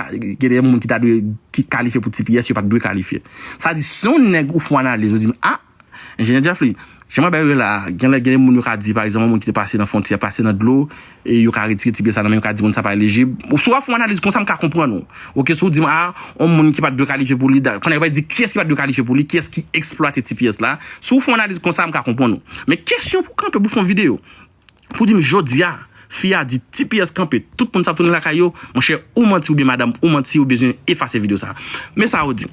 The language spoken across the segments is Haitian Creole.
gen de moun ki ta dwe ki kalifye pou tps yo pat dwe kalifye sa di si yon nèg ou fon analiz ou di a enjenyè Jeffery jan mwen bay yo la gen lè gen de moun yo ka di pa egzanp yon moun ki te pase nan fontyè pase nan dlo e yo ka retire tps la nan men yo ka di moun sa pa elijib ou si wap fon analiz konsa m ka konprann ou ok si w di m a yon moun ki pat dwe kalifye pou li da kounye a yo bay di kiyès ki pat dwe kalifye pou li kiyès ki eksplwate tps la si w fon analiz konsa m ka konprann ou men kesyon pou kanpe pou fon videyo Pou dim jodia fi a di tps kanpe tout moun sa ap tounen lakay yo monchè ou manti oubyen madam ou manti ou bezwen efase video sa men sa yo di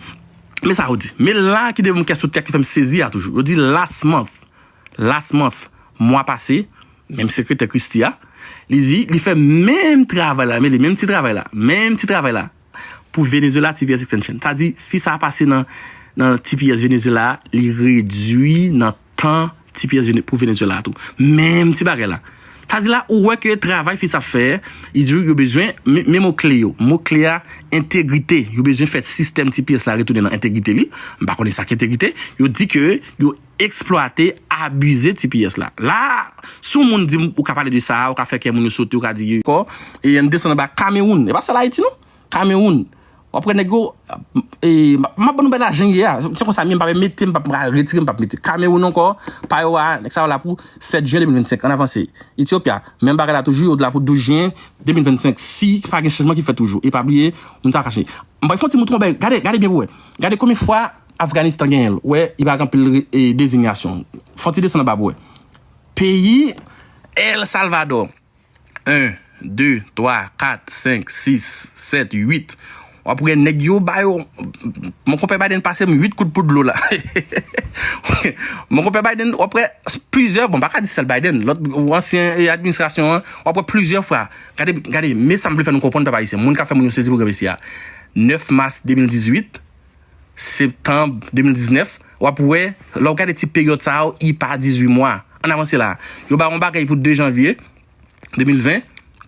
men sa yo di men la ki devem kè sou tèt ki fèm sezi a toujou yo di last month last month mwa pase menm sekretè christie a li di li fè menm travay la men li menm ti travay la menm ti travay la pou Venezuela tps extension. Sa di fi sa pase nan nan tps Venezuela a li redwi nan tan tps pou Venezuela a tou. Menm ti bagay la. Sa di la ou wè ke travay fi sa fè, li di yo bezwen men mo kle yo. Mo kle a entegrite. Yo bezwen fè sistèm tps la retounen nan entegrite li. M pa konnen sa ki entegrite. Yo di ke yo Eksplwate, abize tps la. La a, si yon moun di m ou ka pale de sa a, ou ka fè kè moun yo sote, ou ka di. Kò, e ann desann anba Kamewoun. E pa sèl Ayiti non. Kamewoun. W ap wè nèg yo, e m ap ban nou bay lajan yè a. Se konsa mye m pa mete, m pa pra retire, m pa mete. Kamewoun ankò, pa yo a, nèg sa yo la pou 7 jyen 2025. Ann avanse. Etyopya, menm bagay la toujou, yo la pou 12 jyen 2025. Si pa gen chanjman ki fèt toujou. E pa bliye, moun sa yo kache. M bay fon ti mouton bèy. Gade, gade byen pou wè. Gade konbyen fwa Afganistan genyen l wè li pa ak anpil dezinyasyon. Fon ti desann anba pou wè. Peyi El Salvadò 1 2 3 4 5 6 7 8 w ap wè nèg yo ba yo Mon konpè Biden pase m 8 kout pou dlo la Mon konpè Biden w ap wè plizyè bon m pa ka di sèl Biden lòt ansyen administrasyon an w ap wè plizyè fwa gade gade men sa m vle fè nou konprann pèp ayisyen moun k ap fè moun yo sezi pou granmesi a 9 mas 2018 Septanb 2019, w ap wè, lè w gade ti peryòd sa yo, i pa 18 mwa. Ann avanse la a. Yo ba ou yon bagay pou 2 janvye 2020,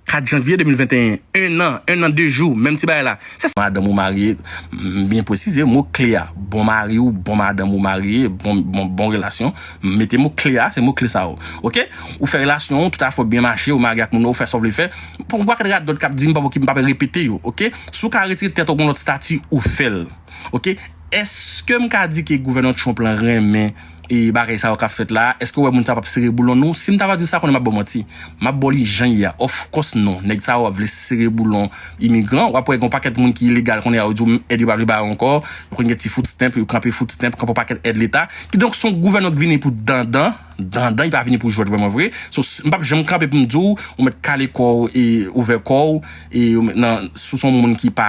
4 janvye 2021. En an, en an de jou, menm ti bagay la. Se. Madanm ou marye, m byen pwesize mo kle a, bon mari ou, bon madanm ou marye, bon, bon, bon relasyon. M mete mo kle a, se mo kle sa yo. Ok? Ou fè relasyon ou, tout afè w byen mache, ou marye ak moun nan, ou fè sa w vle fè. Pou ak radòt kap dim pa ok m pap repete yo ok si w ka retire tèt w gon lòt stati ou fèl ok eskem ka di ke gouvènman Trump lan renmen bagay sa yo kap fèt la a eske w wè moun sa yo pap sere boulon nou si m ta va di w sa konnen map baw manti map baw li jan ye a of course non nèg sa yo ap vle sere boulon imigran wap wè gon pakèt moun ki ilegal kounye a yo di w èd yo pa vle ba yo ankò yo konn gen ti food stamp yo kanpe food stamp kanpe yon pakèt èd leta kidonk son gouvènman k vini pou dandan. Dandan li pa vini pou jwèt vrèman vre so m pap janm kanpe pou m di w ou mèt kale kò w e ouvè kò w e ou mèt nan si w se yon moun ki pa